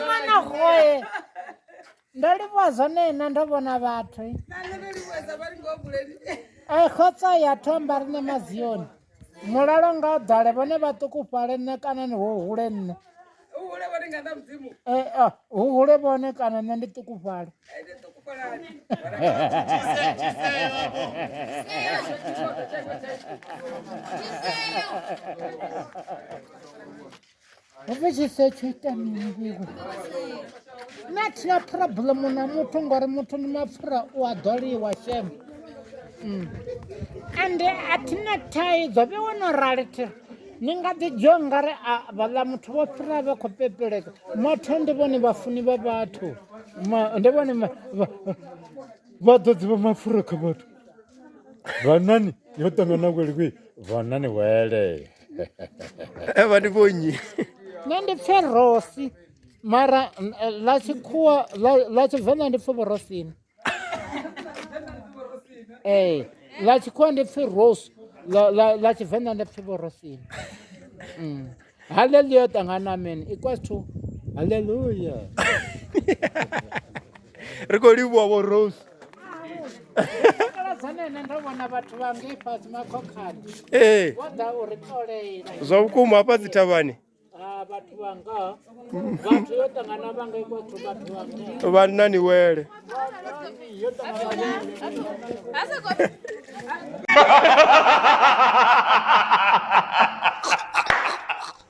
mwana goe ndo livhuwa zwone na ndo vhona vhathu a khotsa ya thomba ri ne mazioni mulalo nga u ḓale vhone vhaṱukufhale nṋe kana ni hu hule nṋe Eh, ah, hu hule vhone kana nṋe ndi ṱukufhale hove tshi sa tsho ita mini vhiko nṋe a thina phuroblemu na muthu ngori muthu ndi mapfura u a ḓoliwa shem mm. ende a thina thaidzo vhe wo no rali thira ni nga ḓi dzhio ngari vhaḽa muthu vho fhira vhe khou pepeleka motho ndi vhone vhafuni vha vhathu ndi vhone vhaḓodzi vha mapfura kha vhathu vanani yo ṱangana kweli kwi vanani wele Eh, vha ndi vho nnyi nṋe ndi pfe rosi mara n- eh, ḽa tshikhuwa ḽa- ḽa tshivenḓa ndi pfe vhorosini ee ḽa tshikhuwa ndi pfe rose ḽa- ḽa ḽa tshivenḓa ndi pfe vhorosini Mm. haleluya ṱangana amen equals to haleluya ri khou livhuwa vho rose ee zwa vhukuma hafha dzi thavhani vhanna ni wele